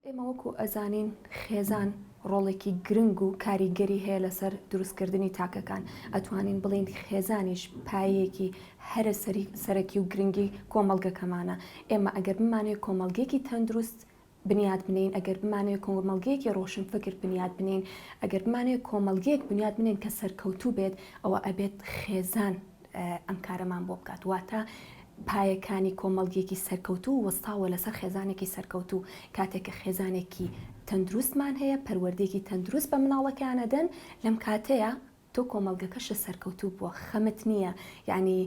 ئێمە وەکو ئەزانین خێزان ڕۆڵێکی گرنگ و کاریگەری هەیە لەسەر دروستکردنی تاکەکان، ئەتوانین بڵێین خێزانیش پایەیەکی هەرە سەرەکی و گرنگی کۆمەڵگەکەمانە، ئێمە ئەگەر بمانەوێت کۆمەڵگەیەکی تەندروست بنیات بنێین، ئەگەر بمانەوێت کۆمەڵگەیەکی ڕۆشنفکر بنیات بنێین، ئەگەر بمانەوێت کۆمەڵگەیەک بنیات بنێین کە سەرکەوتوو بێت، ئەوە ئەبێت خێزان. ئەم کارەمان بۆ بکات واتە پایەکانی کۆمەڵگیەکی سەرکەوتوو وەستاوە لەسەر خێزانێکی سەرکەوتوو کاتێککە خێزانێکی تەندروستمان هەیە پەروەردێکی تەندروست بە مناڵەکانەدەن لەم کاتەیە تۆ کۆمەلگەکەشە سەرکەوتوو بووە خەمت نییە یعنی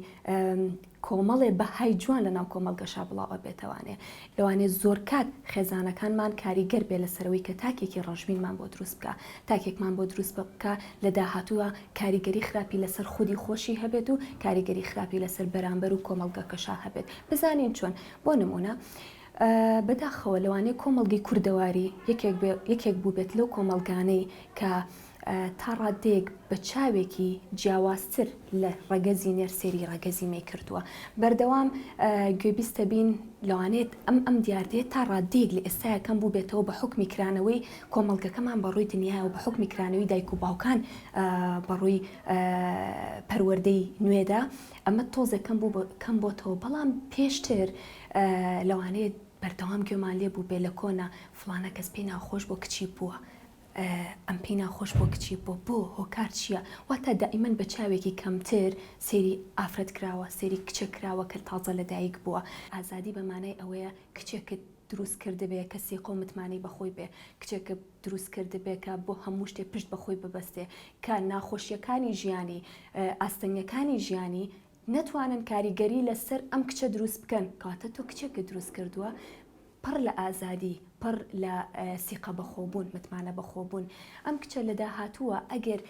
کۆمەڵێ بەهای جوان لە ناو کۆمەلگەشا بڵاوە بێتوانێ لەوانەیە زۆرکات خێزانەکانمان کاریگەر بێت لەسەرەوەی کە تاکێکی ڕەشبینمان بۆ دروست بکا، تاکێکمان بۆ دروست بکا لە داهاتووا کاریگەری خراپی لەسەر خودی خۆشی هەبێت و کاریگەری خراپی لەسەر بەرامبەر و کۆمەڵگەکەشا هەبێت، بزانین چۆن؟ بۆ نموونە بەداخەوە لەوانەیە کۆمەڵگەی کوردەواری یەکێک بێ یەکێک بووبێت لەو کۆمەڵگانەی کە تا ڕاددەیەک بە چاوێکی جیاوازتر لە ڕەگەزی نێر سێری ڕەگەزی مێ کردووە بەردەوام گوێبیستە بین لەوانێت ئەم ئەم دیاردێت تا ڕاددەیەک لە ئێستایەکەم بوو بێتەوە بە حکمی کرانەوەی کۆمەڵگەکەمان بە ڕووی دنیای و بە حکمی کرانەوەی دایک و باوکان بەڕووی پەروەردەی نوێدا ئەمە تۆزەکەم بوو کەم بۆتەوە بەڵام پێشتر لەوانێت بەردەوام گوێمان لێ بوو بێ لە کۆنا فلانە کەس پێی ناخۆش بۆ کچی بووە ئەم پێی ناخۆش بۆ کچی بۆ بۆ هۆکار چییە واتا دائیمەن بە چاوێکی کەمتر سەیری ئافرەت کراوە سەیری کچێک کراوە کە تازە لە دایک بووە ئازادی بە مانای ئەوەیە کچێکت دروست کردبێ کە سیقە و متمانەی بە خۆی بێ کچێکت دروست کردبێ کە بۆ هەموو شتێ پشت بە خۆی ببەستێ کە ناخۆشیەکانی ژیانی ئاستەنگەکانی ژیانی نەتوانن کاریگەری لە سەر ئەم کچە دروست بکەن کەواتە تۆ کچێکت دروست کردووە پڕ لە ئازادی پڕ لە سیقە بەخۆبوون متمانە بەخۆبوون ئەم کچە لە داهاتووە ئەگەر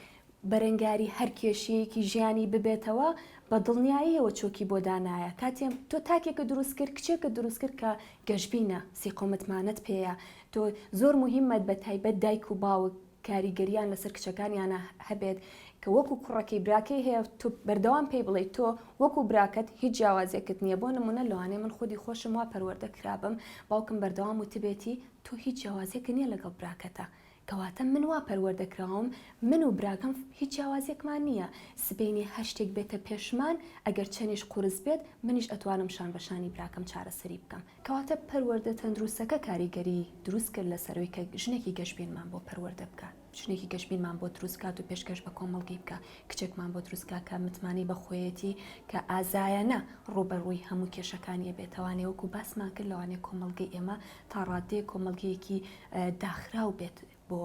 بەرەنگاری هەر کێشەیەکی ژیانی ببێتەوە بە دڵنیاییەوە چۆکی بۆ دانایە کاتێم تۆ تاکێکە دروست کرد کچێکە دروست کرد کە گەشبینە سیقە و متمانەت پێەیە تۆ زۆر مهمەت بە تایبەت دایک و باوک کاریگەریان لەسەر کچەکانیانە هەبێت کە وەکو کوڕەکەی براکەی هەیە تۆ بەردەوام پێی بڵێی تۆ وەکو براکەت هیچ جیاوازیەکت نییە بۆ نمونە لەوانەیە من خودی خۆشم وا پەروەردە کرابم باوکم بەردەوام وتبێتی تۆ هیچ جیاوازیەکت نییە لەگەڵ براکەتا کەواتە من وا پەروەردە کراوم من و براکەم هیچ جیاوازیەکمان نییە سبەینێ هەر شتێک بێتە پێشمان ئەگەر چەنیش قورس بێت منیش ئەتوانم شان بە شانی براکەم چارەسەری بکەم کەواتە پەروەردە تەندروستەکە کاریگەری دروست کرد لەسەروی کە ژنێکی گەشبینمان بۆ پەروەردە بکا، ژنێکی گەشبینمان بۆ دروست کات و پێشکەش بە کۆمەڵگەی بکا، کچێکمان بۆ دروست کا کە متمانەی بە خۆیەتی کە ئازایانە ڕووبەڕووی هەموو کێشەکانی ئەبێت، لەوانەیە وەکو باسمان کرد لەوانەیە کۆمەڵگەی ئێمە تا ڕاددەیەک کۆمەڵگەیەکی داخراو بێت، بۆ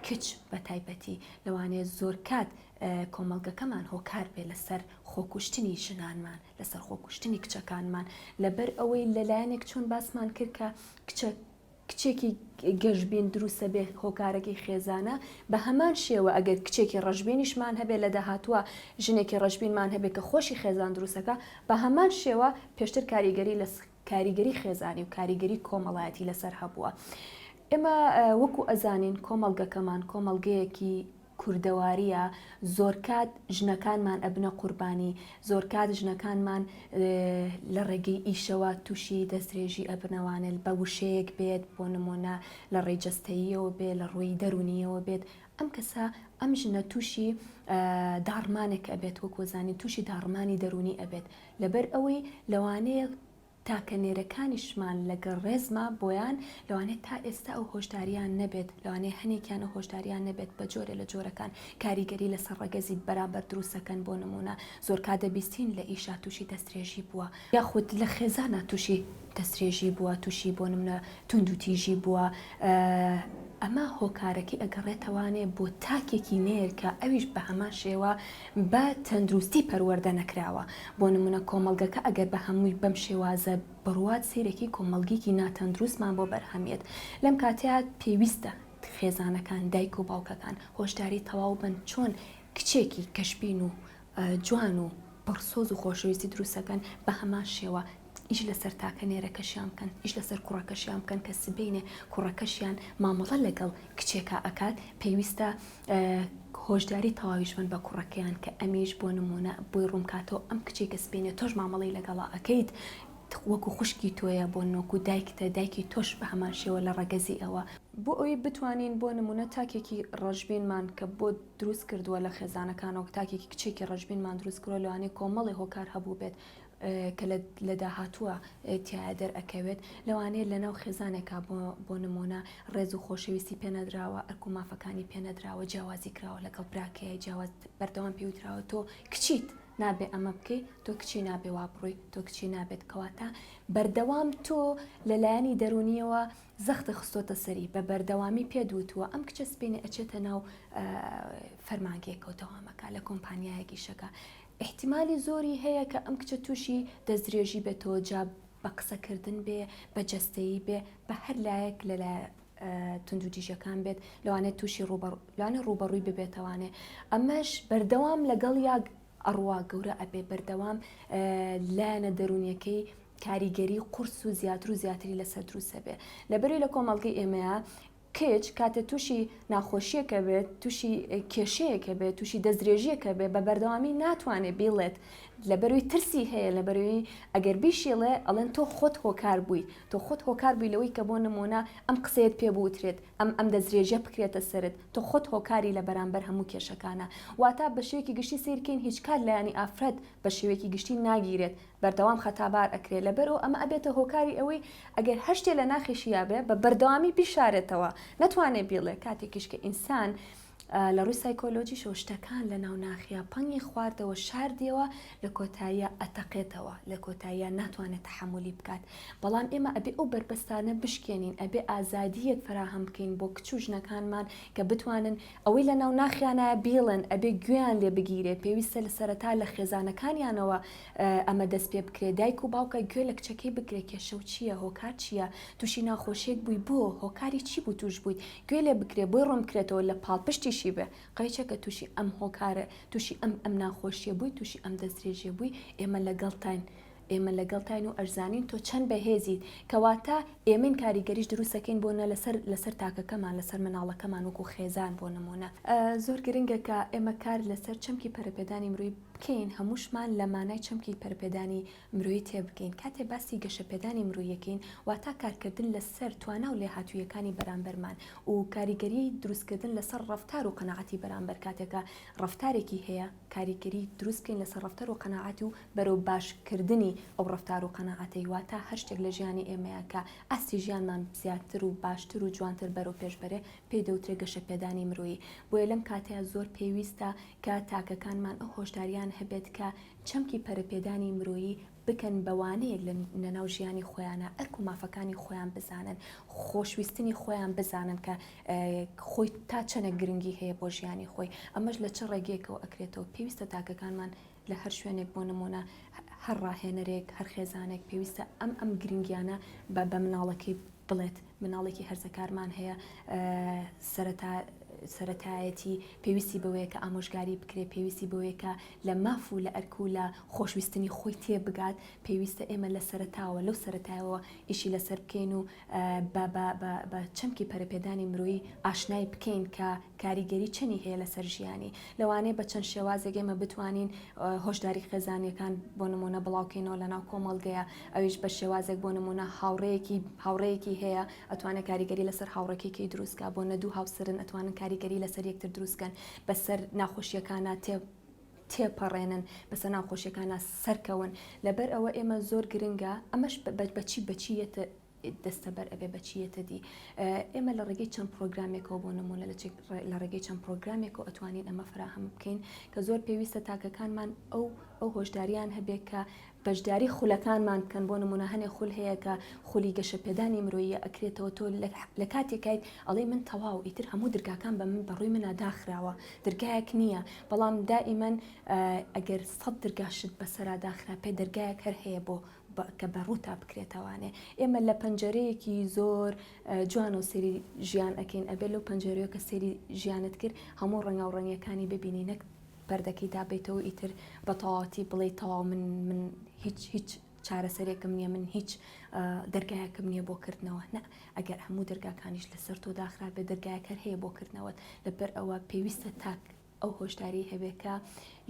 کچ بە تایبەتی لەوانەیە زۆرکات کۆمەڵگەکەمان هۆکار بێ لەسەر خۆکوشتنی ژنانمان لەسەر خۆکوشتنی کچەکانمان لەبەر ئەوەی لەلایەنێک چۆن باسمان کرد کە کچە کچێکی گەشببین دروستە بێ هۆکارەکەی خێزانە بە هەمان شێوە ئەگەر کچێکی ڕژبینیشمان هەبێ لە داهاتوە ژنێکی ڕژبینمان هەبێ کە خۆشی خێزان دروستەکە بە هەمان شێوە پێشتر کاریگەری لە کاریگەری خێزانی و کاریگەری کۆمەڵایەتی لەسەر هەبووە ئێمە وەکو ئەزانین کۆمەڵگەکەمان کۆمەڵگەیەکی کوردەواریە زۆرکات ژنەکانمان ئەبنە قوربانی زۆرکات ژنەکانمان لە ڕێگەی ئیشەوە تووشی دەسترێژی ئەبنەوانێت بە وشەیەک بێت بۆ نمونە لە ڕێی جستەییەوە بێت لە ڕووی دەرونیەوە بێت ئەم کەسە ئەم ژنە تووشی داڕمانێک ئەبێت وەکوزانانی تووشی داڕمانی دەرونی ئەبێت لەبەر ئەوەی لەوانەیە تاکە نێرەکانیشمان لەگەڵ ڕێزما بۆیان، لەوانەیە تا ئێستا ئەو هۆشدارییان نەبێت، لەوانەیە هەنێکیان ئەو هۆشدارییان نەبێت، بە جۆرێ لە جۆرەکان کاریگەری لەسەر ڕەگەزی بەرامبەر دروست دەکەن، بۆ نموونە زۆرکات دەبیستین لە ئیشا تووشی دەسترێژی بووە، یاخود لە خێزانا تووشی دەسترێژی بووە، تووشی بۆ نموونە توندوتیژی بووە، ئەمە هۆکارەکەی ئەگەڕێتەوانێ بۆ تاکێکی نێر کە ئەویش بە هەمان شێوە بە تەندروستی پەروەردە نەکراوە، بۆ نمونە کۆمەڵگەکە ئەگەر بە هەمووی بەم شێوازە بڕوات سەیرەکی کۆمەڵگیکی ناتەندروستمان بۆ بەرهەم یەت، لەم کاتەیا پێویستە خێزانەکان، دایک و باوکەکان هۆشداری تەواو بەن چۆن کچێکی کەشبین و جوان و پڕ سۆز و خۆشەویستی دروست ئەکەن، بە هەمان شێوە ئیش لەسەر تاکە نێرەکەشیان بکەن، ئیش لەسەر کوڕەکەشیان بکەن کە سبەینێ کوڕەکەشیان مامەڵە لەگەڵ کچێکا ئەکات پێویستە هۆشداری تەواویش بن بە کوڕەکەیان کە ئەمیش بۆ نمونە بۆی ڕوونکاتەوە ئەم کچی کە سپینە تۆش مامەڵی لەگەڵا ئەکەیت وەکو خوشکی تۆیە بۆ نۆکو دایکتە دایکی تۆش بە هەمان شێوە لە ڕەگەزی ئەوە بۆ ئەوی بتوانین بۆ نمونە تاکێکی ڕەشبینمان کە بۆ دروست کردووە لە خێزانەکانەوە تاکێکی کچێکی ڕەشبینمان دروست کردوە لەوانەیە کۆمەڵی هۆکار هەبوو بێت کە لە داهاتووە تیایا دەرئەکەوێت، لەوانەیە لەناو خێزانێکا بۆ نموونە ڕێز و خۆشەویستی پێ نەدراوە، ئەرک و مافەکانی پێ نەدراوە، جیاوازی کراوە لەگەڵ براکەی، جیاواز، بەردەوام پێی وتراوە تۆ کچیت نابێ ئەمە بکەی، تۆ کچی نابێ وا بڕۆی، تۆ کچی نابێت، کەواتە بەردەوام تۆ لە لایەنی دەروونییەوە زەختت خستۆتە سەری، بە بەردەوامی پێت وتووە ئەم کچە سپێنی ئەچێتە ناو فەرمانگەیەکە و دەوام ئەکا لە کۆمپانیایەکیشەکە، ئیحتیمالی زۆری هەیە کە ئەم کچە تووشی دەستدرێژی بێتەوە جا بە قسەکردن بێ بە جەستەیی بێ بە هەر لایەک لە لایە توندوتیژەکان بێت لەوانێت تووشی لەوانێ ڕوبەڕووی ببێتەوانێ ئەمەش بەردەوام لەگەڵ یاگ ئەڕوا گەورە ئەبێ بەردەوام لایەنە دەرونیەکەی کاریگەری قورس و زیاتر و زیاتری لەسەر دروسەبێ لەبەری لە کۆمەڵگەی ئێمەیە کچ کاتێ تووشی ناخۆشیەک ئەبێت تووشی کێشەیەک ئەبێت تووشی دەستدرێژیەک ئەبێت بە بەردەوامی ناتوانێت بیڵێت لە بەروی ترسی هەیە لە بەروی ئەگەر بیشیڵێ ئەڵێن تۆ خۆت هۆکار بووی تۆ خۆت هۆکار بووی لەوەی کە بۆ نمونە ئەم قسەیەت پێ بوترێت ئەم ئەم دەستدرێژیە بکرێتە سەرت تۆ خۆت هۆکاری لە بەرامبەر هەموو کێشەکانە واتا بە شێوەیەکی گشتی سیرکەین هیچ کات لایەنی ئافرەت بە شێوەیەکی گشتی ناگیرێت بەردەوام خەتابار ئەکرێ لەبەرئەو ئەمە ئەبێتە هۆکاری ئەوەی ئەگەر هەر شتێ لە ناخیشیا بێ بە بەردەوامی بیشارێتەوە نەتوانێ بیڵێ کاتێکیش کە ئینسان لە ڕووی سایکۆلۆژیشەوە شتەکان لە ناو ناخیا پەنگی خواردەوە شاردیەوە لە کۆتاییا ئەتەقێتەوە لە کۆتاییا ناتوانێت تەحەمولی بکات بەڵام ئێمە ئەبێ ئەو بەربەستانە بشکێنین ئەبێ ئازادیەک فەراهەم بکەین بۆ کچ و ژنەکانمان کە بتوانن ئەوەی لە ناو ناخیانە بیڵێن ئەبێ گوێیان لێ بگیرێ پێویستە لە سەرەتا لە خێزانەکانیانەوە ئەمە دەست پێ بکرێ دایک و باوکە گوێ لە کچەکەی بگرێ کێشە و چییە هۆکار چییە تووشی ناخۆشیەک بووی بۆ هۆکاری چی بوو تووش بوویت گوێ لێ بکرێ بۆی ڕوون بکرێتەوە لە پاڵپشتیشی بێ قەیچە کە تووشی ئەم هۆکارە تووشی ئەم ئەم ناخۆشیە بووی تووشی ئەم دەستدرێژیە بووی ئێمە لەگەڵتاین ئێمە لەگەڵتاین و ئەرزانین تۆ چەند بەهێزیت کەواتە ئێمەین کاریگەریش دروستەکەین بۆ نە لەسەر لەسەر تاکەکەمان لەسەر مناڵەکەمان وەکو خێزان بۆ نمونە زۆر گرنگە کە ئێمە کار لەسەر چەمکی پەرەپێدانی مروی بکەین هەمووشمان لە مانای چەمکی پەرەپێدانی مرۆیی تێبگەین کاتێ باسی گەشەپێدانی مرۆییەکەین واتا کارکردن لەسەر توانا و لێهاتووییەکانی بەرامبەرمان و کاریگەری دروستکردن لەسەر ڕەفتار و قەناعەتی بەرامبەر کاتێکە ڕەفتارێکی هەیە کاریگەری دروست بکەین لەسەر ڕەفتار و قەناعەت و بەرەو باشکردنی ئەو ڕەفتار و قەناعەتەی واتا هەر شتێک لە ژیانی ئێمەیە کە ئاستی ژیانمان زیاتر و باشتر و جوانتر بەرەو پێش بەرێ پێی دەوترێ گەشەپێدانی مرۆیی بۆیە لەم کاتەیا زۆر پێویستە کە تاکەکانمان ئەو هۆشدارییان هەبێت کە چەمکی پەرەپێدانی مرۆیی بکەن بەوانەیەک لە ناو ژیانی خۆیانە ئەرک و مافەکانی خۆیان بزانن خۆشویستنی خۆیان بزانن کە خۆی تا چەنە گرنگی هەیە بۆ ژیانی خۆی ئەمەش لە چ ڕێگەیەکەوە ئەکرێتەوە پێویستە تاکەکانمان لە هەر شوێنێک بۆ نمونە هەر ڕاهێنەرێک هەر خێزانێک پێویستە ئەم ئەم گرنگیانە بە بە مناڵەکەی بڵێت مناڵێکی هەرزەکارمان هەیە سەرەتا سەرەتایەتی پێویستی بەوەیە کە ئامۆژگاری بکرێت پێویستی بەوەیە کە لە ماف و لە ئەرک و لە خۆشویستنی خۆی تێ بگات پێویستە ئێمە لە سەرتاوە لەو سەرەتایەوە ئیشی لەسەر بکەین و بە چەمکی پەرەپێدانی مرۆیی ئاشنای بکەین کە کاریگەری چەنی هەیە لەسەر ژیانی لەوانەیە بە چەند شێوازێک ئێمە بتوانین هۆشداری خێزانەکان بۆ نمونە بڵاوکەینەوە لە ناو کۆمەڵگەیە ئەویش بە شێوازێک بۆ نموونە هاوڕێیەکی هاوڕێیەکی هەیە ئەتوانێ کاریگەری لەسەر هاوڕێکێکی دروست کا بۆ نەدوو هاوسەرن ئەتوانن کاریگەری لەسەر یەکتر دروستکەن بەسەر ناخۆشیەکانە تێ تێپەڕێنن بەسە ناوخۆشیەکانە سەرکەون لەبەر ئەوە ئێمە زۆر گرنگە ئەمەش بەچی بەچیەتە دەستەبەر ئەبێ بە چی یەتە دی؟ ئێمە لە ڕێگەی چەند پرۆگرامێکەوە بۆ نموونە لە ڕێگەی چەند پرۆگرامێکەوە ئەتوانین ئەمە فراهەم بکەین کە زۆر پێویستە تاکەکانمان ئەو ئەو هۆشداریان هەبێت کە بەشداری خولەکانمان بکەن بۆ نمونە هەنێ خول هەیە کە خولی گەشەپێدانی مرۆیە ئەکرێتەوە تۆ لە کاتێکیت ئەڵێ من تەواو ئیتر هەموو درگاکان بە من بەڕووی منە داخراوە درگایەک نییە بەڵام دائیمەن ئەگەر سەد درگاشت بەسەرا داخراپێ دەرگایەک هەر هەیە بۆ کە بە ڕووتا بکرێتەوانێ ئێمە لە پەنجەرەیەکی زۆر جوانەوە سەری ژیان ئەەکەین ئەبێ لەو پەنجەرەیە کە سەری ژیانت کرد هەموو ڕەنگا و ڕەنگەکانی ببینی نەک پەردەکەی دابیتەوە ئیتر بە تەواتی بڵێ تەواو من من هیچ هیچ چارەسەرێکم نییە من هیچ دەرگایەکەم نییە بۆ کردنەوە نە ئەگەر هەموو دەرگاکانیش لەسەر تۆ داخرابێ دەرگایەکەر هەیە بۆ کردنەوەت لەبەر ئەوە پێویستە تاک ئەو هۆشداریەی هەبێت کە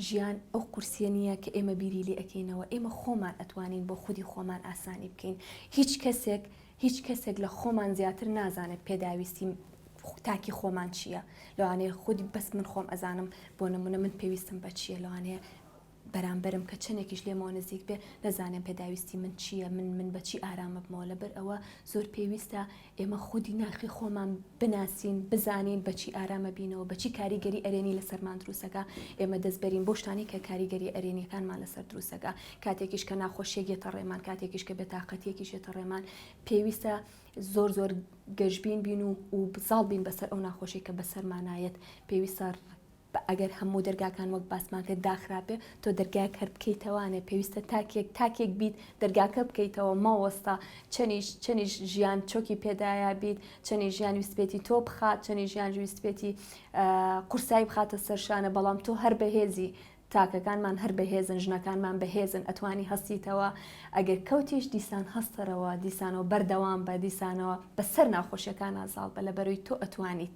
ژیان ئەو قورسیە نییە کە ئێمە بیری لێ ئەکەینەوە ئێمە خۆمان ئەتوانین بۆ خودی خۆمان ئاسانی بکەین هیچ کەسێک هیچ کەسێک لە خۆمان زیاتر نازانێت پێداویستی تاکی خۆمان چییە لەوانەیە خودی بەس من خۆم ئەزانم بۆ نمونە من پێویستم بە چییە لەوانەیە بەرامبەرم کە چەنێکیش لێمەوە نزیک بێ نەزانێم پێداویستی من چییە من من بە چی ئارام ببمەوە لەبەر ئەوە زۆر پێویستە ئێمە خودی ناخی خۆمان بناسین بزانین بە چی ئارام ئەبینەوە بە چی کاریگەری ئەرێنی لەسەرمان دروست ئەکا ئێمە دەست بەرین بەو شتانەی کە کاریگەریە ئەرێنیەکانمان لەسەر دروست ئەکا کاتێکیش کە ناخۆشیەک یەتە ڕێمان کاتێکیش کە بێتاقەتیەکیش یەتە ڕێمان پێویستە زۆر زۆر گەشبین بین و و بزاڵ بین بەسەر ئەو ناخۆشی کە بەسەرمانایەت پێویستە بە ئەگەر هەموو دەرگاکان وەک باسمان کرد داخرابێ تۆ دەرگایەک هەر بکەیتەوانێ پێویستە تاکێک تاکێک بیت دەرگاکە بکەیتەوە مەوەستە چەنیش چەنیش ژیان چۆکی پێدایا بیت چەنی ژیان ویستبێتی تۆ بخات چەنی ژیان ویستبێتی قورسایی بخاتە سەرشانە بەڵام تۆ هەر بەهێزی تاکەکانمان هەر بەهێزن ژنەکانمان بەهێزن ئەتوانی هەستیتەوە ئەگەر کەوتیش دیسان هەستەرەوە دیسانەوە بەردەوام بە دیسانەوە بەسەر ناخۆشیەکان ئازاڵ بە لە بەروی تۆ ئەتوانیت